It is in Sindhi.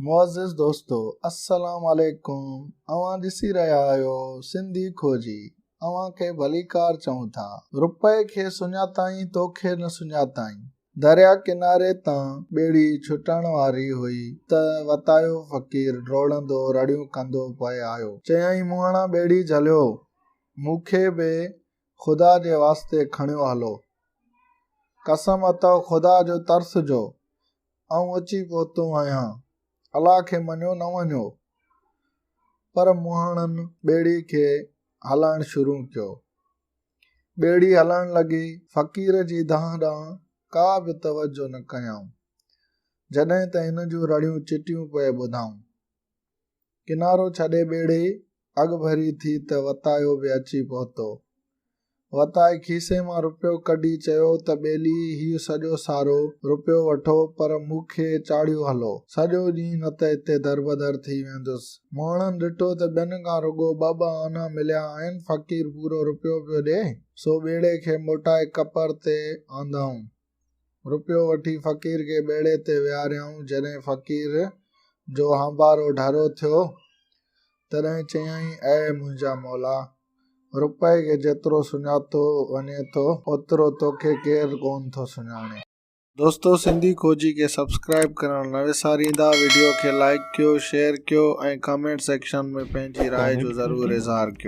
معزز دوستو السلام عليڪم اوهان ڏسي رهيا آهيو سنڌي کوجي اوهان کي ڀليڪار چئون ٿا رپئي کي سڃاتائين توکي نه سڃاتائين دريا ڪناري تان ٻيڙي ڇٽڻ واري هئي ته وتايو فقير ڊوڙندو رڙيون ڪندو پئي آيو چيائين مونهاڻا ٻيڙي جهليو مون کي به خدا جي واسطي کڻيو هلو قسم اٿئو خدا جو ترس جو آئون اچي پهتو آهيان، الله کي مڃيو نه مڃيو پر مهاڻن ٻيڙي کي هلائڻ شروع ڪيو. ٻيڙي هلڻ لڳي، فقير جي دانهن ڏانهن ڪا به توجه نه ڪيائون، جڏهن ته هن جون رڙيون چٽيون پئي ٻڌائون. ڪنارو ڇڏي ٻيڙي اڳڀري ٿي ته وتايو به اچي پهتو. وتائي کيسي مان روپيو ڪڍي چيو ته ٻيلي هي سڄو سارو روپيو وٺو پر مون کي چاڙهيو هلو. سڄو ڏينهن نه ته هتي دربدر ٿي ويندس. مهڻن ڏٺو ته ٻين کان رڳو ٻه ٻه آنا مليا آهن فقير پورو روپيو پيو ڏي سو ٻيڙي کي موٽائي ڪپر تي آندائون. روپيو وٺي فقير کي ٻيڙي تي ويهاريائون جڏهن فقير جو هنبارو ڍرو ٿيو تڏهن چيائين اي منهنجا مولا روپئي کي جيترو سڃاتو وڃي ٿو اوترو توکي ڪير ڪون ٿو سڃاڻي. دوستو سنڌي کوجي کي سبسڪرائيب ڪرڻ نه وساريندا وڊيو کي لائيڪ ڪيو شيئر ڪيو ۽ ڪامينٽ سيڪشن ۾ پنهنجي راء جو ضرور اظهار ڪيو.